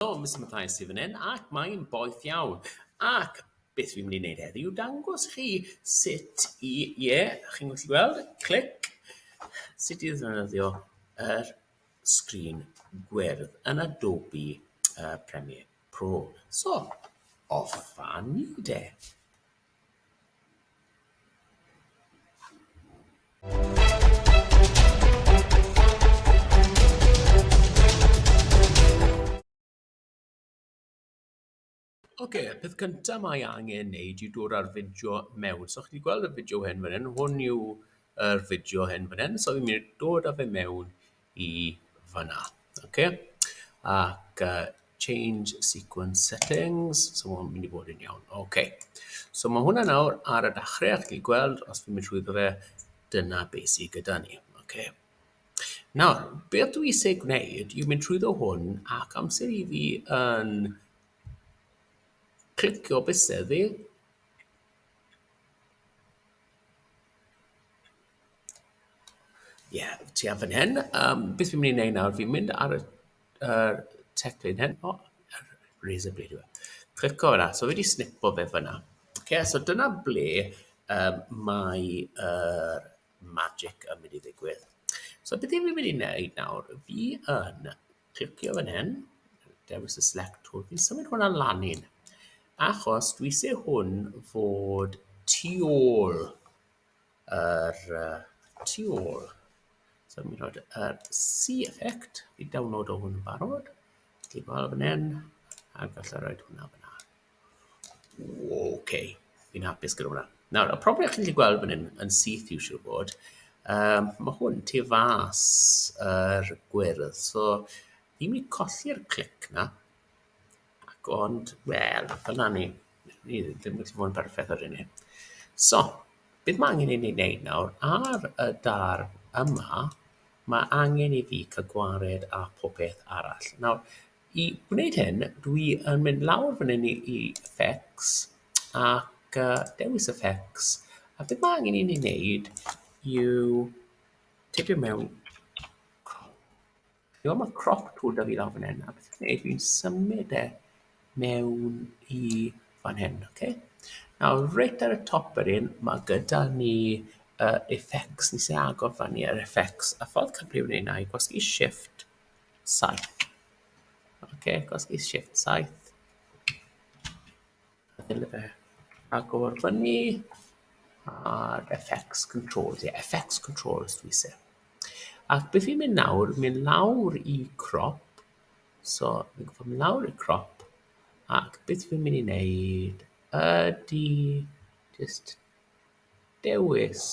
Helo Mister Mathias sydd fan hyn ac mae'n boeth iawn. Ac beth fi'n mynd i wneud heddi yw dangos chi sut i, ie, yeah, chi'n gallu gweld, clic, sut i ddefnyddio yr er sgrin gwyrdd yn Adobe uh, Premiere Pro. So, off a ni de. Oce, okay, peth cyntaf mae angen wneud yw dod â'r fideo mewn. So, chi'n gweld y fideo hyn fan hyn, hwn yw'r fideo hyn fan hyn. So, fi'n mynd i dod â fe mewn i fanna. Ocê, ac yy change sequence settings, so ma' hwn mynd i fod yn iawn. Ocê, so ma' hwnna nawr ar y dachrau, a chi gallu gweld, os fi'n mynd trwyddo fe, dyna be sy gyda ni. Ocê. Nawr, beth dwi isie gwneud yw mynd trwyddo hwn ac amser i fi yn clicio bysedd fi, Ie, tua fan hyn. Yym, beth fi'n mynd i wneud nawr, fi'n mynd ar y yr teclyn hyn. O, yr razor blade yw e. Clico fan'na. So fi 'di snipo fe fan'na. Ocê, so dyna ble yym mae yr magic yn mynd i ddigwydd. So beth fi'n mynd i wneud nawr, fi yn clicio fan hyn, dewis y select tool, fi'n symud hwnna lan un, achos dwi isie hwn fod tu ôl yr yy tu ôl. So mi roid yr see effect i download o hwn yn barod. Ti'n gweld fan hyn, a gallai roed hwnna fyna. OK, fi'n hapus gyda hwnna. Nawr, y problem chi'n gallu gweld fan hyn yn syth i'w siw bod, um, mae hwn tu fas yr gwyrdd. So, fi'n mynd i colli'r clic na, Ac ond, wel, dyna ni. Ni ddim wedi bod yn berffaith ar hynny. So, beth mae angen i ni wneud nawr? Ar y dar yma, mae angen i fi cael gwared a popeth arall. Nawr, i wneud hyn, dwi yn mynd lawr fan hyn i, i effects ac uh, dewis effects. A beth mae angen i ni wneud yw tipio mewn Ch'mod ma' crop tool 'da fi lawr fan 'yn a beth dwi'n neud dwi'n symud e mewn i fan hyn, oce? Nawr reit ar y top fan hyn, ma' gyda ni yy effects, nes i agor fan 'i ar effects, a ffordd cyflym o neud 'na yw gwasgu shift saith, oce, gwasgu shift saith. Dyna fe. Agor fyny. A'r FX controls. Ie, yeah, FX controls dwi se. Ac beth fi'n mynd nawr, mynd lawr i crop. So, fi'n gwybod mynd lawr i crop. Ac beth fi'n mynd i wneud ydy just dewis.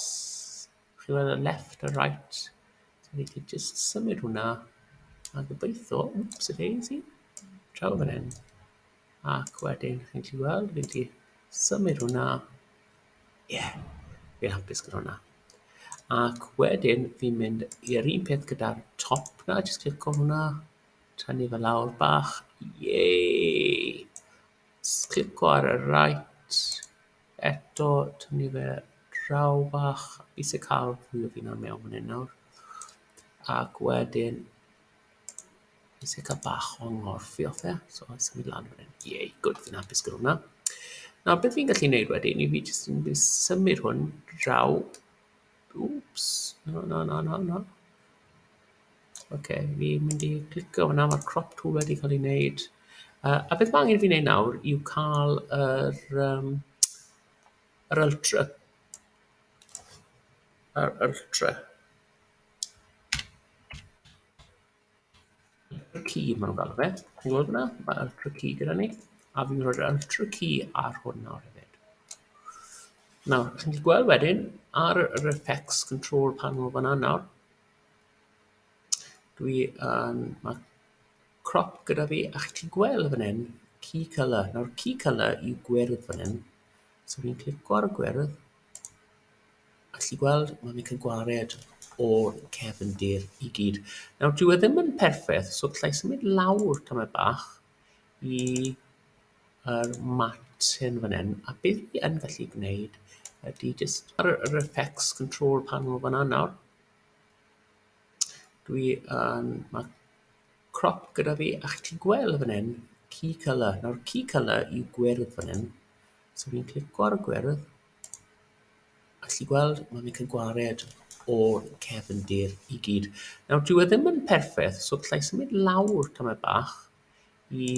Chi weld y left a right. So, fi wedi just symud hwnna. A gobeithio, whoops, a daisy. Traw fan hyn. Ac wedyn, chi'n gallu gweld, fi'n gallu symud hwnna. Ie, yeah, fi'n hapus gyda hwnna. Ac wedyn, fi'n mynd i'r un peth gyda'r top na, jyst clico hwnna, tynnu fe lawr bach. Yey! Clico ar y right, eto, tynnu fe draw bach. Fi sy'n cael fwy o fi'n mewn fan hyn nawr. Ac wedyn, Nes i cael bach o nghorffu off e, so a symud lan fan hyn. Yay, gwd, fi'n hapus gyda hwnna. Nawr, beth fi'n gallu neud wedyn i fi jyst yn mynd symud hwn draw... Wps, na, na, na, na, na. Oce, fi'n mynd i clicio hwnna, mae'r crop tool wedi cael ei wneud. Uh, a beth mae angen fi wneud nawr yw cael yr, um, yr ultra. Yr ultra. Ultra key maen nhw'n galw fe. Chi'n gweld hwnna? Mae ultra key gyda ni. A fi'n rhoi'r ultra key ar hwn nawr hefyd. Nawr, chi'n gallu gweld wedyn ar yr effects control panel fanna nawr. Dwi yn... Um, mae crop gyda fi a chi'n gallu gweld fan hyn key colour. Nawr key colour yw gwyrdd fan hyn. So fi'n clicio ar y gwyrdd Allu gweld ma' fi'n ca'l gwared o'r cefndir i gyd. Nawr dyw e ddim yn perffeth so gallai symud lawr tamaid bach i yr martin fan 'yn a be' fi yn gallu gwneud ydi jyst ar y yr effects control panel fan 'na nawr dwi yn ma' crop gyda fi a chi 'llu gwel' fan 'yn key colour nawr key colour yw gwyrdd fan 'yn So fi'n clico ar y gwyrdd, a chi gweld mae'n mynd yn gwared o'r cefndir i gyd. Nawr, dyw e ddim yn perffaith, so gallai symud lawr tamaid bach i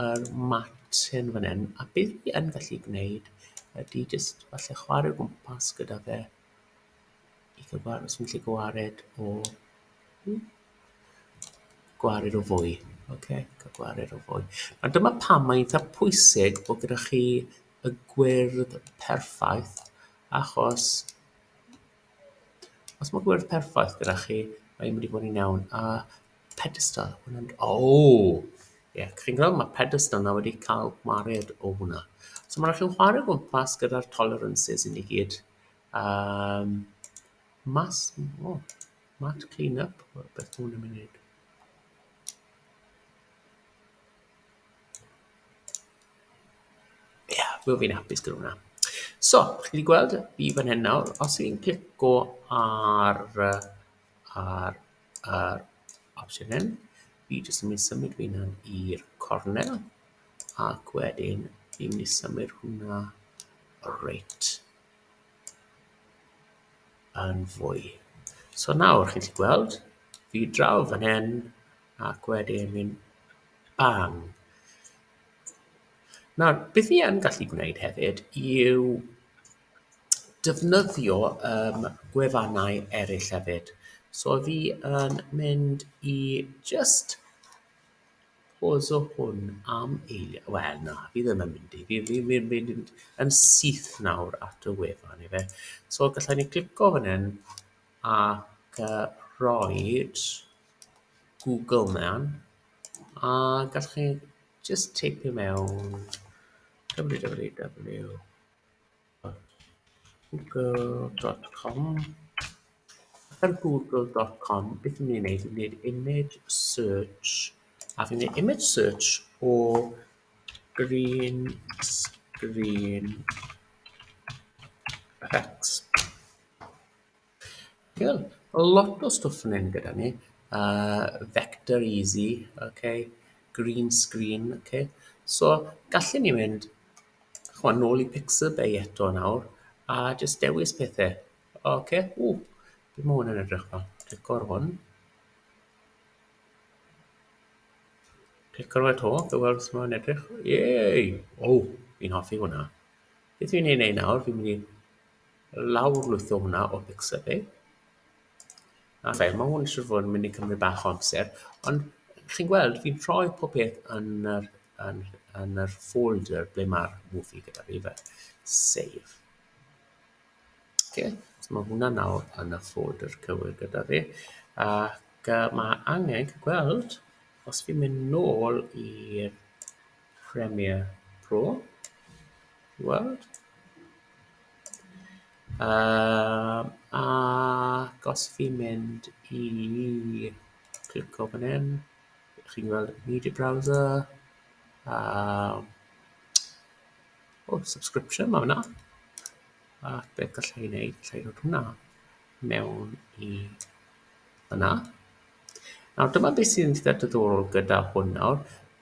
yr matin fan hyn, a beth fi yn gallu gwneud ydy jyst falle chwarae gwmpas gyda fe Os fi'n gallu gwared o... hmm? Gwared o fwy. Ok, cael gwared o fwy. A dyma pam mae'n eitha pwysig bod gyda chi y gwyrdd perffaith, achos os mae gwyrdd perffaith gyda chi, mae'n mynd i fod yn iawn. A pedestal, ma' hwnna'n mynd... O! Ie, chi'n gweld, ma' pedestal 'na wedi cael gwared o hwnna. So ma' raid i chi chware o gwmpas gyda'r tolerances i ni gyd. Yym mas o mat clean up wel beth ma' hwn yn myn' i neud? Ie wel fi'n hapus gyda wnna. So chi gyd yn gweld fi fan hyn nawr os fi'n clico ar yy ar yr opsiwn hyn fi jyst yn myn' i symud fy hunan i'r cornel ac wedyn fi'n myn' i symud hwnna reit yn fwy. So nawr, chi'n gallu gweld, fi draw fan hyn, ac wedyn mynd bang. Nawr, beth fi yn gallu gwneud hefyd yw defnyddio yym gwefannau eraill hefyd. So fi yn mynd i jyst... Pause o hwn am eiliad. Wel, na, fi ddim yn mynd i. Fi, fi, fi, fi, fi yn syth nawr at y wefan i fe. So, gallai ni glico fan hyn ac uh, rhoi Google mewn a gallwch chi just teipio mewn www Google.com Ar Google.com beth fi'n mynd i wneud yw gwneud image search a fi'n gwneud image search o green screen effects. Cool. Mae lot o stwff yn hyn gyda ni. Uh, vector easy, okay. green screen. Okay. So, gallen ni mynd chwa, nôl i Pixabay eto nawr, a jyst dewis pethau. Okay. Ww, beth mae hwn yn edrych fel? Clic o'r hwn. Clic o'r eto, fe weld sut mae'n edrych. Yey! O, oh, fi'n hoffi hwnna. Beth fi'n ei wneud nawr? Fi'n mynd i lawrlwytho hwnna o Pixabay. Ok, mae hwn eisiau fod yn mynd i cymryd bach o amser, ond chi'n gweld, fi'n rhoi pob peth yn yr, yn, yn yr folder ble mae'r movie gyda fi fe. Save. Ok, so mae hwnna nawr yn y folder cywir gyda fi. Ac uh, mae angen gweld, os fi'n mynd nôl i'r Premiere Pro i weld. Um, ac os fi'n mynd i clico fan hyn, chi'n gweld Media Browser, um, oh, subscription, mae hwnna. Ac beth gallai ei wneud, gallai roed hwnna mewn i yna. Nawr dyma beth sy'n eitha diddorol gyda hwn nawr.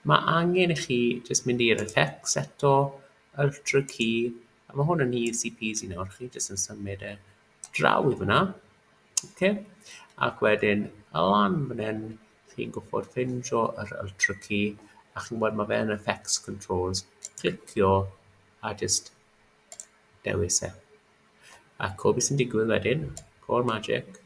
Mae angen i chi jyst mynd i'r effects eto, ultra key, a mae hwn yn easy peasy nawr, chi jyst yn symud e draw i fyna. Okay. Ac wedyn, a lan fan hyn, chi'n gwybod ffeindio yr ultra key, a chi'n gwybod mae fe'n effects controls, clicio a jyst dewis e. Ac o beth sy'n digwydd wedyn, o'r magic,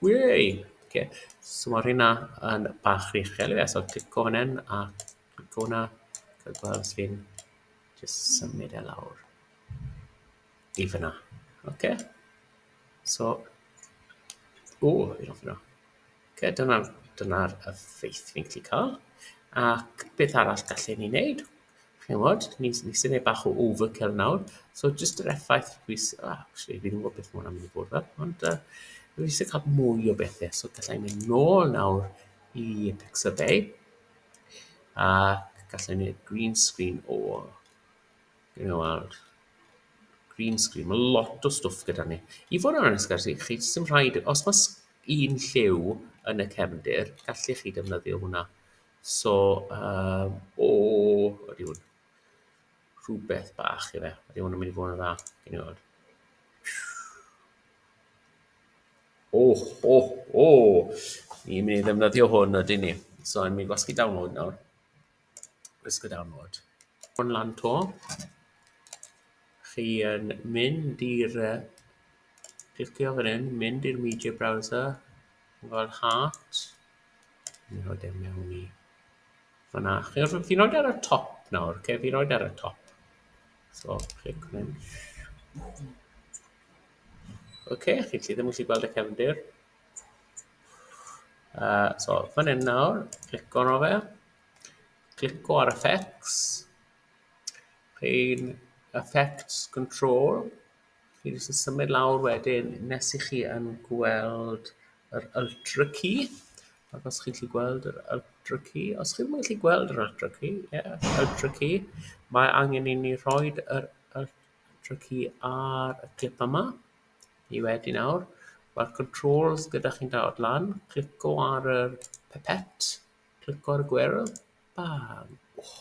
Wei! Oce, so mae hynna yn bach rhy uchel i fe, so clico fan hyn a clico hwnna, cael gweld os fi'n jyst symud e lawr i fyna. Oce, so, o, fi'n hoffi hwnna. Oce, dyna'r dyna effeith fi'n gallu cael. Ac beth arall gallen ni wneud? Chimod, ni ni sy'n ei bach o overkill nawr. So jyst yr effaith dwi s- ah, actually fi ddim yn gwybod beth ma' hwnna'n mynd i bod fel, ond yy dwi isie cael mwy o bethe, so gallai mynd nôl nawr i Pixel Bay a gallai neud green screen o you know ar green screen, ma' lot o stwff gyda ni. I fod yn onest gyda chi, chi jyst ddim rhaid os ma' s- un lliw yn y cefndir, gallech chi defnyddio hwnna. So, um, o, ydy hwn. Rhywbeth bach i fe. Ydy hwn yn mynd i fod yn dda. Gyn i fod. O, o, o! Ni'n mynd i ddefnyddio hwn ydy ni. So, ni'n mynd i gwasgu download nawr. Gwasgu download. Hwn lan to. Chi yn mynd i'r... Clicio fan hyn, mynd i'r media browser. Fel heart. Fi'n rhoi e mewn i fan'na. Chi wrth- fi'n rhoid e ar y top nawr, oce? Fi'n rhoid e ar y top. So, clic fan 'yn. Oce, chi 'llu ddim yn gallu gweld y cefndir. Uh, so, fan 'yn nawr, clico arno fe. Clico ar effects. Chi'n effects control. Chi jyst yn symud lawr wedyn nes i chi yn gweld yr Ultra Key. Ac os chi'n gallu gweld yr Ultra Key, os chi'n mynd gallu gweld yr Ultra Key, ie, yeah, Ultra Key, mae angen i ni roi yr Ultra Key ar y clip yma. I wedi nawr, mae'r controls gyda chi'n dawod lan, clico ar y pipette, clico ar y gwyrdd, bam. Oh.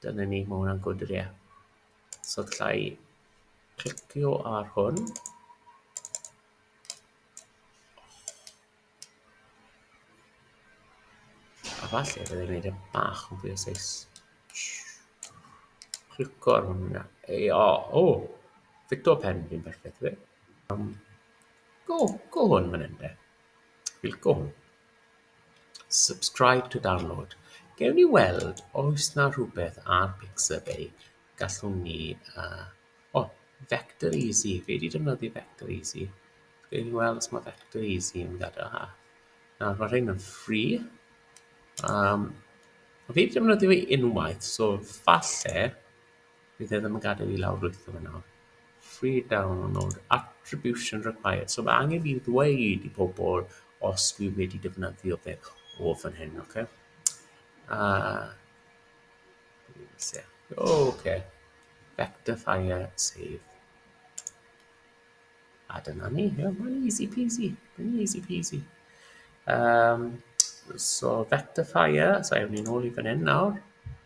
Dyna ni, mae hwnna'n gwrdd ie. So lla i clicio ar hwn. A falle byddai'n gwneud e bach yn fwy o seis. Clicio ar hwnna. Ei, o, o, fito pen fi'n perffaith fe. Um, go, go hwn fan hyn de. Clicio hwn. Subscribe to download. Gewn ni weld oes 'na rhywbeth ar Pixabay gallwn ni... yy o, Vector Easy. Fi 'di defnyddio Vector Easy. Gewn ni weld os mae Vector Easy yn gadarnhad. Nawr, mae rhain yn free. Um, fi 'di defnyddio fi unwaith, so falle Bydd e ddim yn gadael i lawr wrtho fe nawr. Free download, attribution required. So mae angen i ddweud i pobl os dwi wedi defnyddio fe o fan hyn, oce? Okay? Uh, oh, okay. Vector fire save. A dyna ni, yeah, mae'n easy peasy, mae'n easy peasy. Um, so vector fire, so ewn ni'n ôl i fan hyn nawr.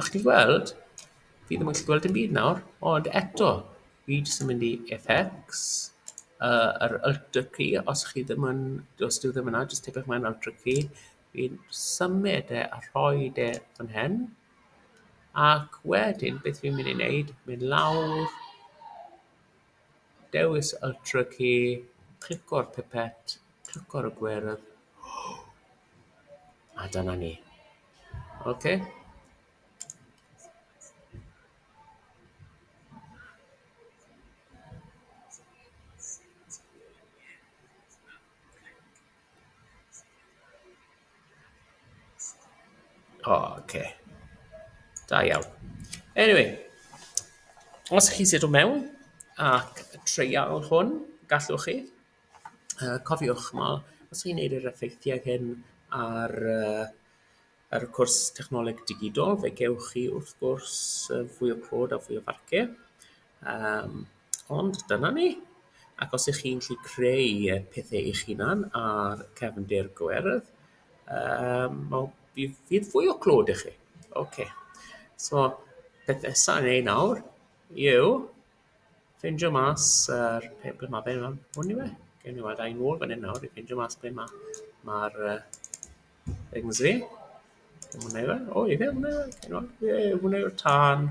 A chi'n gweld, fi ddim yn gallu gweld dim byd nawr, ond eto, fi jyst yn mynd i effects, yy yr alter key, os chi ddim yn, os dyw e ddim yna, jyst tipyn mewn alter key, fi'n symud e a rhoid e fan hyn, ac wedyn beth fi'n mynd i wneud, mynd lawr, dewis alter key, clico'r pipet, clico'r gwyrdd, A dyna ni. Oce. Oce. Da iawn. Anyway, os chi sut o mewn ac treial hwn, gallwch chi. Yy cofiwch ch'mod os chi'n neud yr effeithiau hyn ar yy ar y cwrs technoleg digidol fe gewch chi wrth gwrs yy fwy o clod a fwy o farcie yym ond dyna ni. Ac os 'ych chi'n 'llu creu yy pethe eich hunan ar cefndir gwerdd yym wel bydd bydd fwy o clod 'da chi. Ocê so peth nesa i neud nawr yw Ffeindio mas yr pe- ble ma' fe rŵan. Hwn yw e. Gewn ni weld e yn ôl fan hyn nawr i ffeindio mas ble ma' ma'r yy things fi. Dim hwnna yw e. O ife hwnna yw e? Gewn ni weld. Ie hwnna yw'r tân.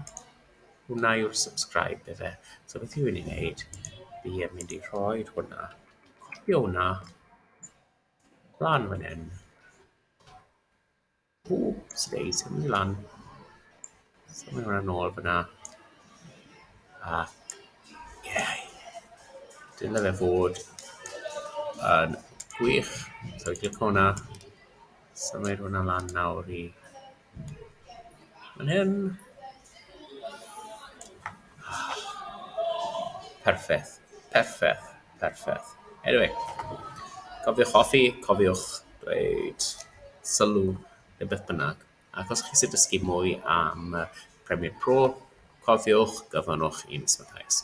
Hwnna yw'r subscribe ife. So beth fi wedi wneud fi yn mynd i rhoi hwnna. Copio hwnna lan fan hyn. Ww, sy'n neis, symud i lan. Symud hwnna nôl fyna. A, ie. Dyle fe fod yn gwych. So, i glic hwnna. Symud hwnna lan nawr i... Yn hyn. Perffaith, perffaith, perffaith. Eniwe, cofiwch hoffi, cofiwch dweud sylw neu beth bynnag. Ac os chi eisiau dysgu mwy am Premiere Pro, cofiwch, gofynnwch i'n Miss Mathias.